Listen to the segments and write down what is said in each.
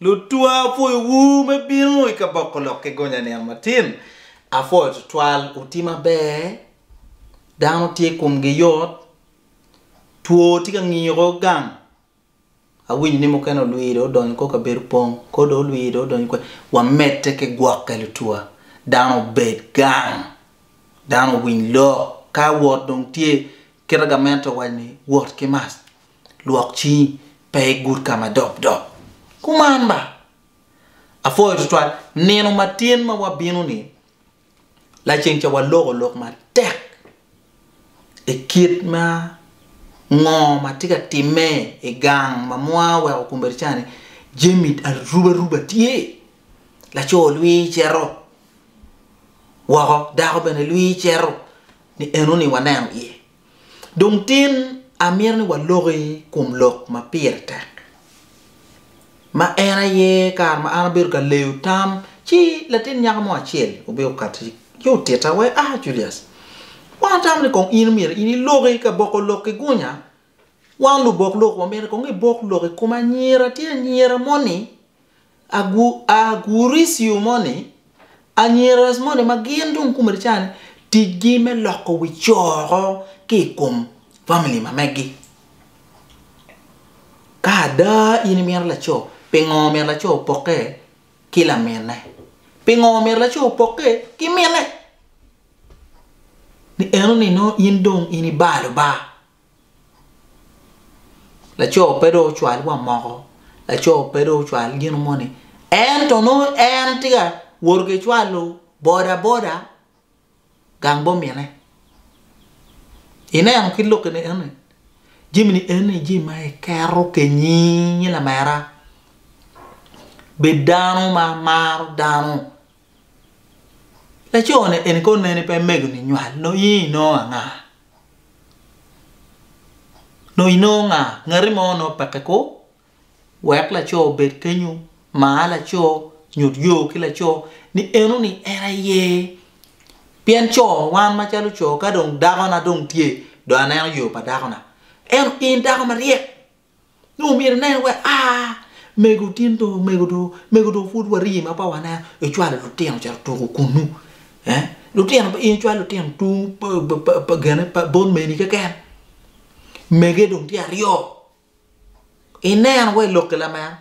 Lutwa apwoyo wu me bino i kaboko lok ki gonya nino matin apwoyo twatwal wuti maber dano tye kom gi yot two tye ka ngiko gang awinyo ni mukene olwir dong odonyo kor kabedo pong kor dong olwir dong odonyo kwer wa mede ki gwoke lutwa dano obed gang dano owiny lok ka wot dong tye kite gamente owaco ni wot ki mac. Lwok cingi, pe igud ka ma dopdop. Kuman ba. Apwoyo tutwal nino ma tin ma wabino-ni, laceng ca waloko lok matek i kit ma ngo ma tye ka timme i gang ma mwa oweko kombeddi ca-ni. Jami arubaruba tye, laco lwii cito woko, dako bene lwii cito, ni enoni waneno iye. Dong tin amito ni waloki kum lok ma pire tek, ma en aye kare ma an abedo ka leyo tam, ci latin nyako mo acel obino okatti ci otitta wai, Ah, Julius, wan watamo ni kong in myero in iloki ka boko lok ki gunya. Wan lubok lok wamito ni kong ibok lok i kom anyira tye anyira moni. Agurisio moni, Anyiras moni ma gin dong komedi ca ni ticgi me loko wi co oko ki i kom famili ma megi. Ka ada in imito laco, pingo omyero laco opokke ki lamine? Pingo omyero laco opokke ki mine? Ni eno ni nongo in dong in ibalo ba Laco pe dong ocwal wa moko, laco pe dong ocwal gino moni, ento nongo en tye ka woto ki cwalo bodaboda gang bomine. Ineno kit lok eni eni? Jami ni eni jami ma iketo kenyingi lamera. Bed dano ma maro dano. Laco-ni eni kono en pe megoni nywal nongo in inongo anga? Nongo inongo nga? Ngati mo nongo peke ko wek laco obed kenyo, mar laco, nyut yo ki laco ni enoni en aye. Pien co wan macalo co ka dong dakona dong tye dong aneno yo pa dakona. Ento in dako maryek. ni omyero inen wek a mego tin dong mego dong mego dong pud wari ma pe waneno icwalo lutino ocito tuku kunnu eh lutino in icwalo lutino tung pa gene pa bot meni keken mege dong tye aryo ineno wa i lokke lameno.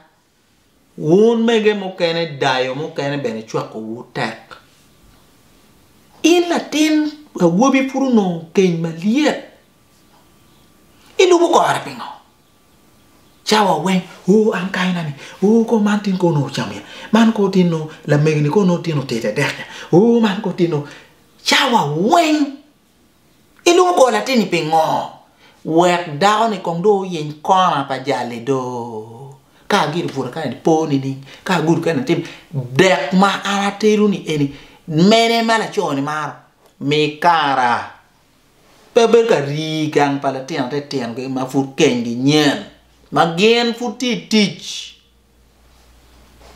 Wun mege mukene dayo mukene bene cwakowu tek. In latin awobi pud onongo keny malyet, ilubo kore pingo? Cawa weng, ooh an kayi na ni, ooh kor man tin kor nongo ocamo iya, man kor tin nongo lamege ni kor nongo tin otete dek nya, ooh man kor tin nongo. Cawa weng Ilungo bor latinni pingo? Wek dako-ni kong dong oyiny kona pa jal-li do! Ka agido bute kani ni, 'Po nining? Ka agudo kene atim dek ma an atelo-ni eni, mene ma laco-ni maro? Mi kara! Pe abedo ka rii gang pa litino titino keken ma pud kenygi nyen, ma gin pud tye i tic.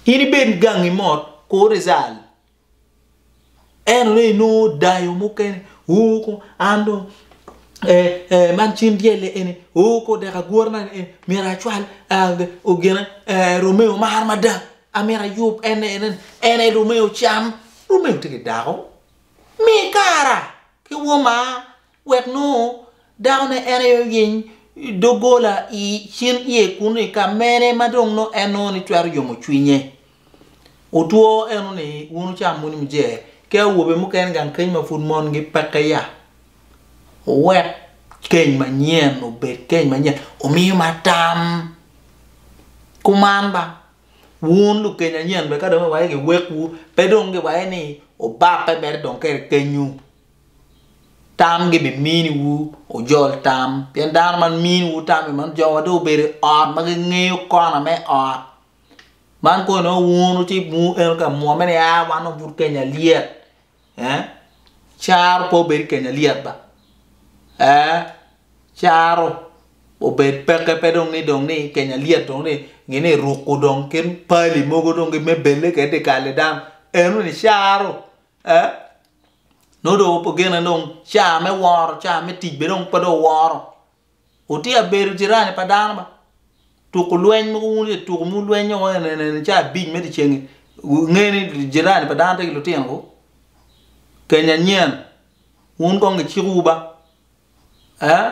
In ibed gangi mot, kur izal. Ento dong inongo dayo mukene oo kong an dong ee man cim dyelle eni oo kong odeko agure man eni myero acwal gine Romeo mar mada amyero ayub en aye en aye Romeo cam, Romeo tye ki dako mi kara ki woma. Wek nongo dakone en aye oyeny doggola i cin iye kun i ka mene ma dong nongo en nongo ni twero yomo cwinye. Otwo eno ni wun wucam muni mujer ki awobe mukene gang keny ma pud mongi peke ya. Wuwek keny manyen obed keny manyen omiyo ma tam. Kuman ba, wun lukeny anyen bene ka dong giwaco giwekwu pe dong giwaco ni obape mere dong kede kenywu. Tam gibimini wu wujol tam, pien dano ma mini wu tam i man jo ma dong obedo i ot ma gingeyo kona me ot. Man kong inongo wun wuti wun eno ka mwomme ni aa wan dong pud Kenya lyet ee caro pe obed Kenya lyet ba ee caro obed peke pe dong ni dong ni Kenya lyet dong ni gin eruku dong kit pali mogo dong me belle kede dikali dano eno ni caro Ee, nongo dong opo gene dong caa me woro, caa me tic bene dong pe dong woro. Wutye ka bedo jirani pa dano ba. Tuku lweny mogo wun ye tuku ma wulwenyo woko en en en caa abic me dyeceng-ngi, wunge ni jirani pa dano tye ki lutinowu? Keny anyen, wun kong gicikowu ba. Ee,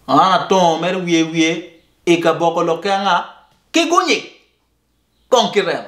man atongo mere wiye wiye i kaboko lok ki anga? Ki gunyik, kong ki remo.